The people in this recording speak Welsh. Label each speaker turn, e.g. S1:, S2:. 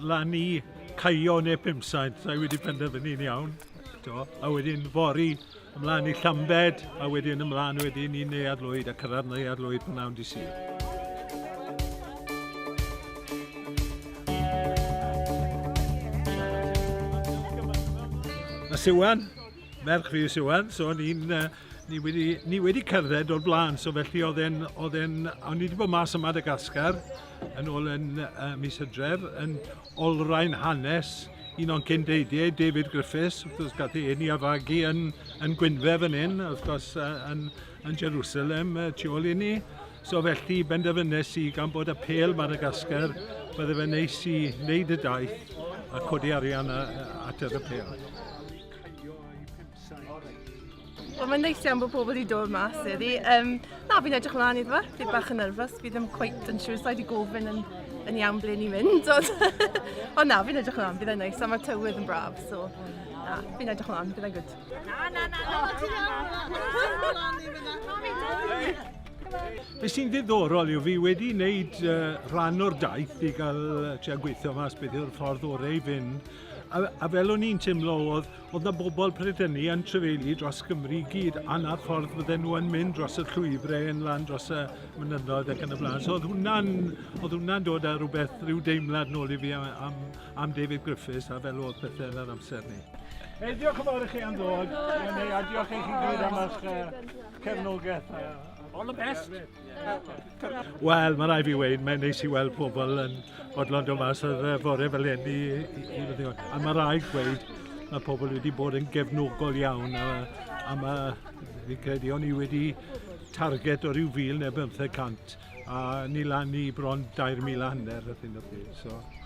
S1: lan i Caio neu Pumsain, sa i wedi penderfynu'n iawn, t'mo'? A wedyn fory ymlan i Llambed a wedyn ymlan wedyn i Neuadd Lwyd a cyrraedd Neuadd Lwyd p'nawn dy' Sul. A Siwan, merch fi yw Siwan, so ni'n yy Ni wedi, ni wedi cerdded o'r blaen, so felly oedd e'n... oedd e'n... o'n ni wedi bod mas yn Madagascar yn ôl yn uh, mis hydref yn olrhain hanes un o'n cyn deidiau, David Griffiths, wrth gwrs gath ei ni a fagu yn, yn Gwynfe fan hyn, wrth gwrs uh, yn, yn Jerusalem uh, tu ôl i ni. So felly benderfynnes i gan bod y pel Madagascar, bydde fe neis i wneud y daith a codi arian at yr y pel.
S2: Wel, mae'n neis iawn bod pobl wedi dod mas heddi. Um, na, fi'n edrych ymlaen iddo fe. Fi bach yn nerfus. Fi ddim cweit yn siŵr sa'i di gofyn yn, yn iawn ble ni'n mynd. Ond, ond na, fi'n edrych ymlaen. Bydd e'n neis. A mae tywydd yn braf. So, na, fi'n edrych ymlaen. Bydd e'n good. Na, na, na, na,
S1: Be sy'n ddiddorol yw fi wedi wneud uh, rhan o'r daith i gael uh, tua gweithio mas beth yw'r ffordd orau i fynd A, a fel o'n i'n teimlo oedd, oedd na bobl pryd hynny yn trefeili dros Gymru i gyd, a na'r ffordd fydden nhw yn mynd dros y llwybrau yn lan dros y mynyddoedd ac yn y blaen. So oedd hwnna'n, oedd hwnna'n dod â rhywbeth, rhyw deimlad nôl i fi am, am, am David Griffiths a fel oedd pethau yn yr amser ni. Hey, diolch yn fawr i chi am ddod, a diolch i chi gyd am eich cefnogaeth. All the best! Wel, mae rai fi wein, mae'n neis i weld pobl yn odlon dod mas ar fore fel hyn i, i, i, i A mae rai gweud, mae pobl wedi bod yn gefnogol iawn a, a mae, fi'n credu, o'n i wedi target o ryw fil neu bymtheg cant a ni lan i bron 2,000 hanner a thyn o pryd. So,